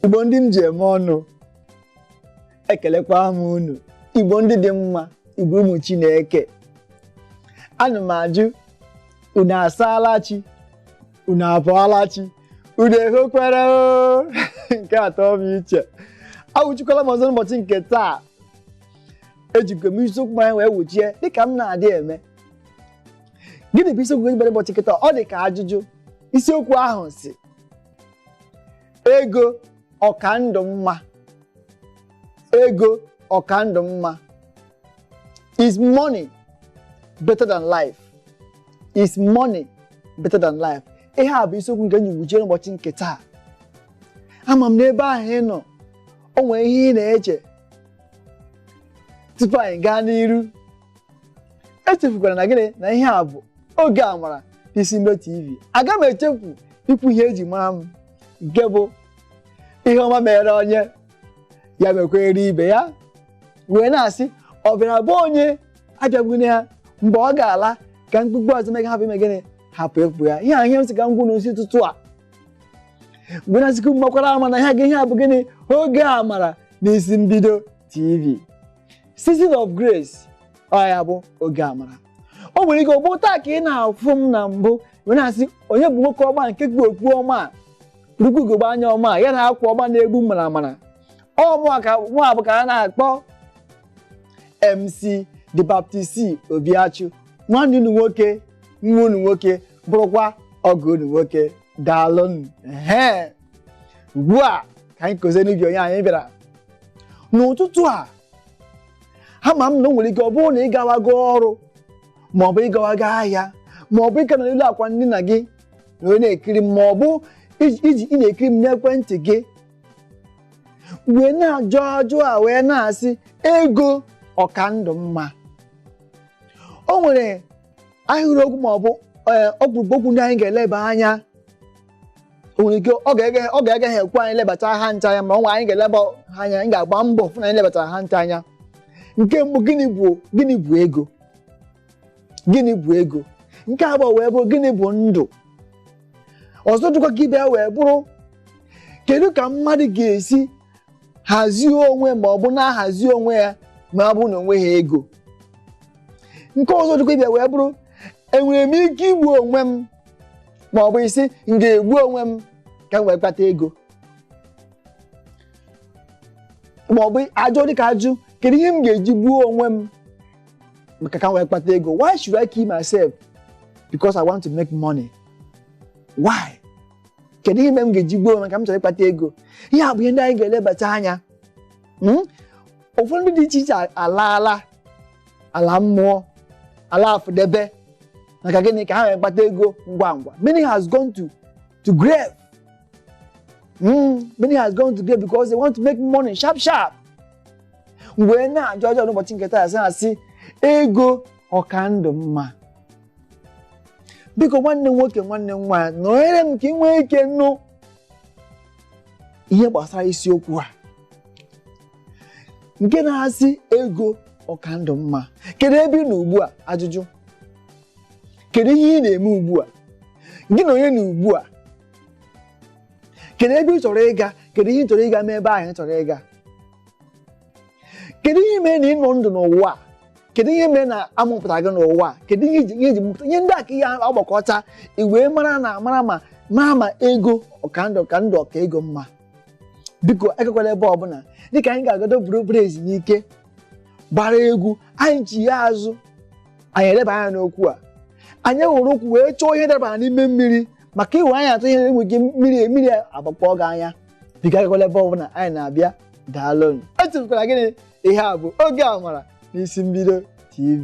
igbo ndị m ji eme ọnụ ekelekwa m unu igbo ndị dị mma igbo ụmụ chineke ana m ajụ unu asaala chi unu abọọla chi unu ehokwere o nke atọ m iche awụchikwala m ọzọ n'ụbọchị nke taa ejikwa m isiokwu anyị wee wụchie dịka m na-adị eme gịnị bụ isiokwu eji bịara ụbọchị nke taa ọ dị ka ajụjụ isiokwu ahụ sị ego ọ ka ndụ mma ego ọ ka ndụ mma is money better than life is money better than life ihe a bụ isiokwu nke eji wụchie n'ụbọchị nke taa ama m na ebe ahụ ị nọ o nwere ihe ị na-eche tupu anyị gaa n'iru echefukwala na gịnị na ihe a bụ oge amara n'isi mbido tv aga m echefu ikwu ihe eji mara m nke bụ ihe ọma mere onye ya mekwere ibe ya wee na-asị ọ bịara be onye abịagbune ya mgbe ọ ga-ala ka mkpukpu ọzọ mega hapụ ime gịnị hapụ ifu ya ihe a ihe m sị ka m gwa unu n'isi ụtụtụ a mgbe na-asịkwu mmakwara ama na ihe gị ihe a bụ gịnị oge amara n'isi mbido tv season of grace ọ ya bụ oge amara o nwere ike ọ bụ taa ka ị na-afụ m na mbụ wee na-asị onye bụ nwoke ọma nke yi okpu ọma a rukwu ugogbe anya ọma a ya na akwa ọma na-egbu maramara ọ mụa ka nwa bụ ka a na-akpọ MC the Baptist Obiachu nwanne unu nwoke nwa unu nwoke bụrụkwa ọgọ unu nwoke daalụnụ ehe ugbu a ka anyị kọzie n'ubi onye anyị bịara n'ụtụtụ a ama m na o nwere ike ọ bụrụ na ị gawago ọrụ ma ọ bụ ị gawago ahịa ma ọ bụ ị ka nọ n'elu akwa ndina gị wee na-ekiri m ma ọ bụ ị ji ị ji- ị na-ekiri m n'ekwentị gị wee na-ajụ ajụ a wee na-asị ego ọ ka ndụ mma o nwere ahịrịokwu ma ọ bụ ee, ọkpụrụkpụ okwu ndị anyị ga-eleba anya o nwere ike oge- oge agaghị ekwe anyị lebata ha ncha anya ma ọ nwe anyị ga-eleba ha anya anyị ga-agba mbọ fụ na anyị lebatara ha ncha anya nke mbụ gịnị bụ gịnị bụ ego gịnị bụ ego nke abụọ wee bụrụ gịnị bụ ndụ ọzọ dịkwa ka ibe ya wee bụrụ kedu ka mmadụ ga-esi hazie onwe ma ọ bụ na-ahazi onwe ya ma ọ bụ na o nweghị ego nke ọzọ dịkwa ibe ya wee bụrụ enwere m ike igbu onwe m ma ọ bụ ị sị m ga-egbu onwe m ka m wee kpata ego ma ọ bụ ajụ dịka ajụ kedu ihe m ga-eji gbuo onwe m maka ka m wee kpata ego why should I kill myself because I want to make money why kedu ihe mere m ga-eji gbuo onwe m ka m chọrọ ịkpata ego ihe a bụ ihe ndị anyị ga-elebata anya Hmm? ụfọdụ ndị dị iche iche alaala ala mmụọ ala afụdebe maka gịnị ka ha wee kpata ego ngwa ngwa many has gone to to grave mm, many has gone to grave because they want to make money sharp sharp m wee na-ajụ ajụjụ n'ụbọchị nke taa sị ha sị ego ọ ka ndụ mma biko nwanne m nwoke nwanne m nwaanyị nọnyere m ka ị nwee ike nụ ihe gbasara isiokwu a nke na-asị ego ọ ka ndụ mma kedu ebe ị nọ ugbu a ajụjụ kedu ihe ị na-eme ugbu a gị na onye nọ ugbu a kedu ebe ị chọrọ ịga kedu ihe ị chọrọ ịga mee ebe ahụ ị chọrọ ịga kedu ihe mere na ị nọ ndụ n'ụwa a? kedu ihe mere na a mụpụta gị n'ụwa a? kedu ihe e ji- ihe e ji mụpụta ihe ndị a ka ị ga-agbakọta i wee mara na mara ma mara ma ego ọ ka ndụ ka ndụ ọ ka ego mma biko agakwala ebe ọbụla dịka anyị ga-agagodu buru obere ezumike gbara egwu anyị chigha azụ anyị eleba anya n'okwu a anyị were ụkwụ wee chọọ ihe dabara n'ime mmiri maka i were anya achọ ihe e nwee ike mmiri mmiri agbakpọ gị anya biko agakwala ebe ọbụla anyị na-abịa daalụ echefukwala gịnị ihe a bụ oge amara n'isi mbido tv